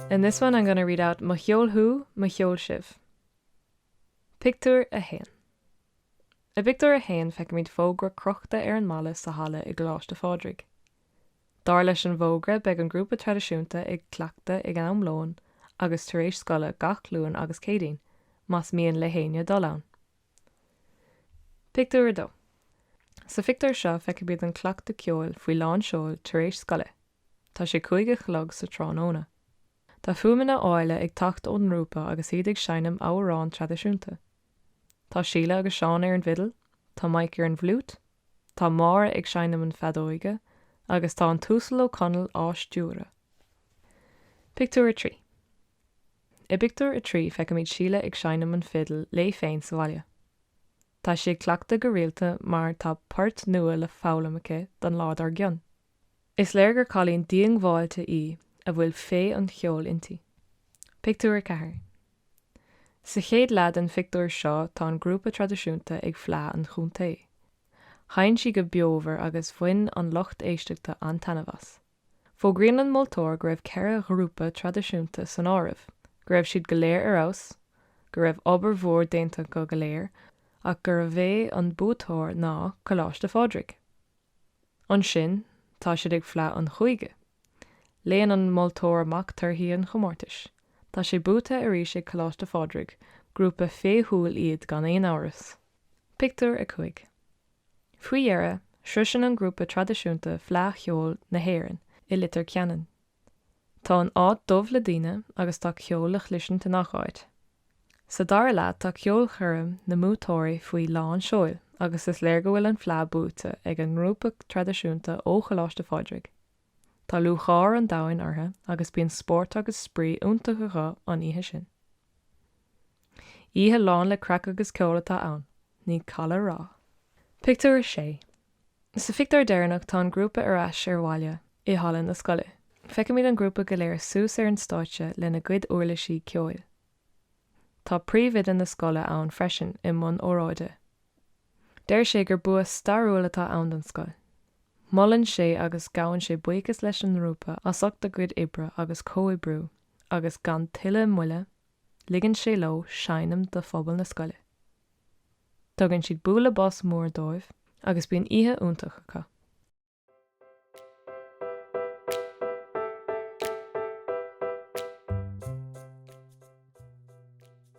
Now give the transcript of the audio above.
In this one I'm gonna read out Mo cheol thú, mo cheol sibh. Pictiúr 1 I bpictiúr a haon feicimid fógra crochta ar an mballa sa halla i gColáiste Phádraig. Dar leis an bhfógra beidh an grúpa traidisiúnta ag cleachtadh ag am lóin agus tar éis scoile gach Luan agus Céadaoin, más mian le héinne dul ann. Pictiúr 2 Sa phictiúr seo feicimid an cleachtadh ceoil faoi lán seoil tar éis scoile. Tá sé cúig a chlog sa tráthnóna. Tá fuaimeanna áille ag teacht ón ngrúpa agus iad ag seinm amhrán traidisiúnta. Tá Síle agus Seán ar an bhfidil, tá Mike ar an bhfliúit, tá Máire ag seinm an fheadóige agus tá an tUasal Ó Conaill á stiúradh. Pictiúr 3. I bpictiúr a trí feicimid Síle ag seinm an fhidil léi féin sa bhaile. Tá sí ag cleachtadh go rialta mar tá páirt nua le foghlaim aici don lá dár gcionn. Is léir gur cailín díongbháilte í a bhfuil féith an cheoil inti. Pictiúr a ceathair Sa chéad leath den phictiúr seo tá an grúpa traidisiúnta ag Fleadh an Chontae. Sheinn siad go beomhar agus bhain an lucht éisteachta an-taitneamh as. Fógraíonn an moltóir go raibh ceithre ghrúpa traidisiúnta san áireamh, go raibh siad go léir ar fheabhas, go raibh obair mhór déanta acu go léir ach gurbh é an buaiteoir ná Coláiste Phádraig. Ansin tá siad ag Fleadh an Chúige. Léann an moltóir amach torthaí an chomórtais. Tá sé buaite arís ag Coláiste Phádraig, grúpa féithiúil iad gan aon amhras. Pictiúr 5. Faoi dheireadh, sroiseann an grúpa traidisiúnta Fleadh Cheoil na hÉireann i Litir Ceanainn. Tá an áit dubh le daoine agus tá ceol le chlisint i ngach áit. Sa dara leath tá ceolchoirm na mbuaiteoirí faoi lán seoil agus is léir go bhfuil an Fleadh buaite ag an ngrúpa traidisiúnta ó Choláiste Phádraig. Tá lúcháir an domhain orthu agus bíonn spórt agus spraoi iontach acu an oíche sin. Oíche lán le craic agus ceol atá ann, ní call a rá. Pictiúr 6 Sa phictiúr deireanach tá an grúpa ar ais ar bhaile i halla na scoile. Feicimid an grúpa go léir suas ar an stáitse lena gcuid uirlisí ceoil. Tá príomhoide na scoile ann freisin i mbun óráide. Deir sé gur bua stairiúil atá ann don scoil. Molann sé agus gabhann sé buíochas leis an ngrúpa as ucht a gcuid oibre agus comhoibriú. agus gan tuilleadh moille ligeann sé leo seinm do phobal na scoile. Tugann siad bualadh bos mór dóibh agus bíonn oíche iontach acu.